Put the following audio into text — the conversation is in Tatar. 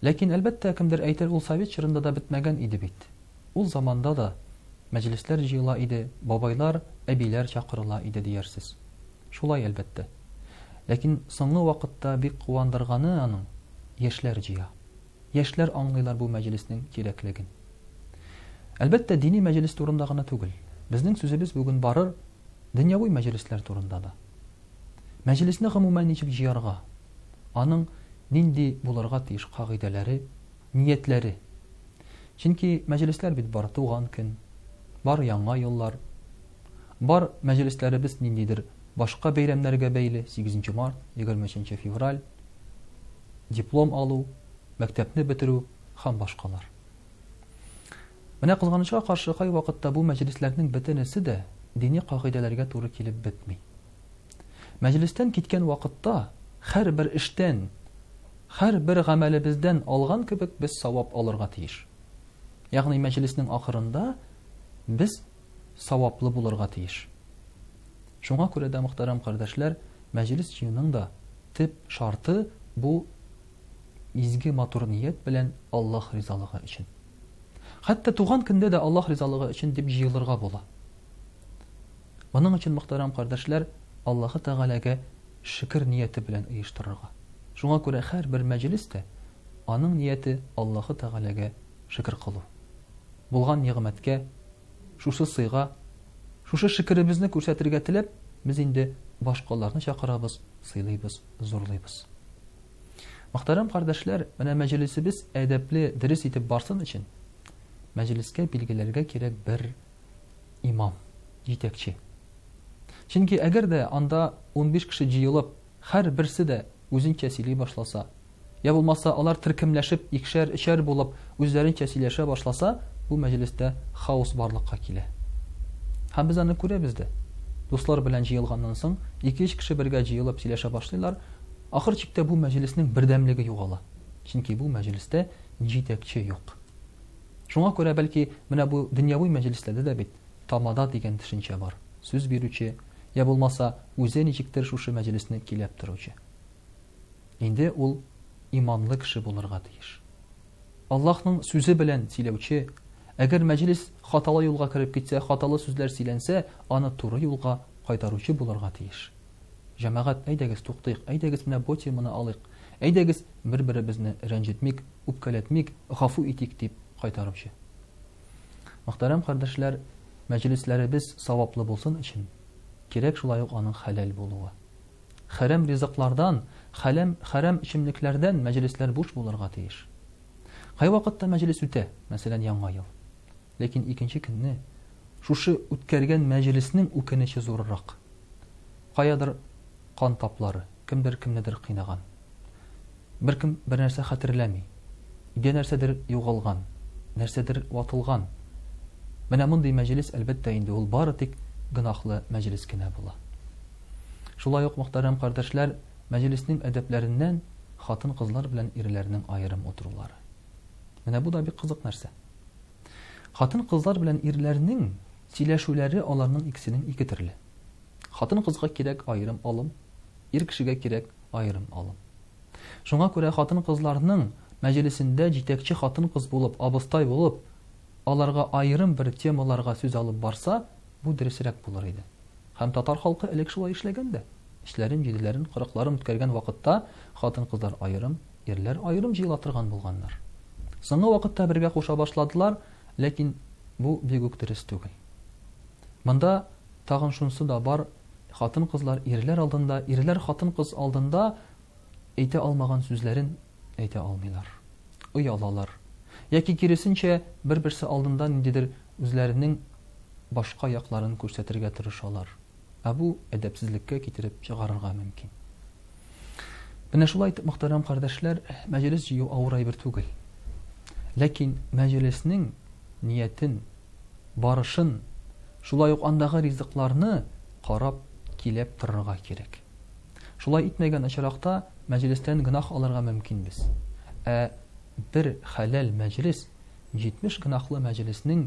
Ләкин, әлбәттә, кемдер әйтер, ул совет чорында да бетмәгән иде бит. Ул заманда да мәҗлесләр җыела иде, бабайлар, әбиләр чакырыла иде диярсез. Шулай, әлбәттә. Ләкин соңгы вакытта бик куандырганы аның, яшьләр җыя. Яшьләр аңлыйлар бу мәҗлеснең кирәклеген. Әлбәттә, дини мәҗлес турында гына түгел. Безнең сүзебез бүген барыр дөньяви мәҗлесләр турында да. Мәҗлесне гомумән ничек җыярга? аның нинди булырга тиеш кагыйдәләре, ниятләре. Чөнки мәҗлесләр бит бар туган көн, бар яңа еллар, бар мәҗлесләребез ниндидер башка бәйрәмнәргә бәйле, 8 март, 23 февраль, диплом алу, мәктәпне бетерү һәм башкалар. Менә кызганычка каршы кай вакытта бу мәҗлесләрнең бөтенесе дә дини кагыйдәләргә туры килеп бетми. Мәҗлестән киткән вакытта һәрбер эштән, һәрбер гамәлебездән алган кебек без савап алырга тиеш. Ягъни мәҗлеснең ахырында без саваплы булырга тиеш. Шуңа күрә дә мөхтәрәм кардәшләр, мәҗлес җыюның да төп шарты бу изге матур ният белән Аллаһ ризалыгы өчен. Хәтта туган көндә дә Аллаһ ризалыгы өчен дип җыелырга була. Моның өчен, мөхтәрәм кардәшләр, Аллаһы Тәгаләгә шөкер нияте белән оештырырга. Шуңа күрә һәрбер мәҗлес тә, аның нияте Аллаһы Тәгаләгә шөкер кылу. Булган нигъмәткә, шушы сыйга, шушы шөкеребезне күрсәтергә теләп, без инде башкаларны чакырабыз, сыйлыйбыз, зурлыйбыз. Мөхтәрәм кардәшләр, менә мәҗлесебез әдәпле, дөрес итеп барсын өчен, мәҗлескә билгеләргә кирәк бер имам, җитәкче. Чөнки әгәр дә анда 15 кеше җыелып, һәр берсе дә үзенчә сөйли башласа, я булмаса алар төркемләшеп икшәр, өчәр булып үзләренчә сөйләшә башласа, бу мәҗлестә хаос барлыкка килә. Һәм без аны күрәбез дә. Дуслар белән җыелганнан соң, 2-3 кеше бергә җыелып сөйләшә башлыйлар, Ахыр чиктә бу мәҗлеснең бердәмлеге югала, чөнки бу мәҗлестә җитәкче юк. Шуңа күрә, бәлки, менә бу дөньяви мәҗлесләрдә дә бит тамада дигән төшенчә бар, сүз бирүче, йә булмаса, үзе ничектер шушы мәҗлесне киләп торучы. Инде ул иманлы кеше булырга тиеш. Аллаһның сүзе белән сөйләүче, әгәр мәҗлес хаталы юлга кереп китсә, хаталы сүзләр сөйләнсә, аны туры юлга кайтаручы булырга тиеш. Җәмәгать, әйдәгез, туктыйк, әйдәгез, менә бу теманы алыйк, әйдәгез, бер-беребезне рәнҗетмик, үпкәләтмик, гафу итик, дип кайтаручы. Мөхтәрәм кардәшләр, мәҗлесләребез саваплы булсын өчен, кирәк шулай ук аның хәләл булуы. Хәрәм ризыклардан, хәләм, хәрәм эчемлекләрдән мәҗлесләр буш булырга тиеш. Кайвакытта мәҗлес үтә, мәсәлән, Яңа ел. Ләкин икенче көнне шушы үткәргән мәҗлеснең үкенече зуррак. Каядыр кан таплары, кемдер кемнедер кыйнаган. Беркем бернәрсә хәтерләми. Өйдә нәрсәдер югалган, нәрсәдер ватылган. Менә мондый мәҗлес, әлбәттә, инде ул бары тик гөнаһлы мәҗлес кенә була. Шулай ук, мөхтәрәм кардәшләр, мәҗлеснең әдәпләреннән хатын-кызлар белән ирләрнең аерым утырулары. Менә бу да бик кызык нәрсә. Хатын-кызлар белән ирләрнең сөйләшүләре аларның икесенең ике төрле. Хатын-кызга кирәк аерым алым, ир кешегә кирәк аерым алым. Шуңа күрә хатын-кызларның мәҗлесендә җитәкче хатын-кыз булып, абыстай булып, аларга аерым бер темаларга сүз алып барса, бу дөресрәк булыр иде. Һәм татар халкы элек шулай эшләгән дә. Эчләрен, җиделәрен, кырыкларын үткәргән вакытта хатын-кызлар аерым, Ирләр аерым җыела торган булганнар. Соңгы вакытта бергә куша башладылар, ләкин бу бик үк дөрес түгел. Монда тагын шунсы да бар, хатын-кызлар ирләр алдында, ирләр хатын-кыз алдында әйтә алмаган сүзләрен әйтә алмыйлар. Оялалар. Яки киресенчә, бер-берсе алдында ниндидер үзләренең башка якларын күрсәтергә тырышалар. Ә бу әдәпсезлеккә китереп чыгарырга мөмкин. Менә шулай итеп, мөхтәрәм кардәшләр, мәҗлес җыю авыр әйбер түгел. Ләкин мәҗлеснең ниятен, барышын, шулай ук андагы ризыкларны карап, килеп торырга кирәк. Шулай итмәгән очракта мәҗлестән гынах алырга мөмкин без. Ә бер хәләл мәҗлес 70 гынахлы мәҗлеснең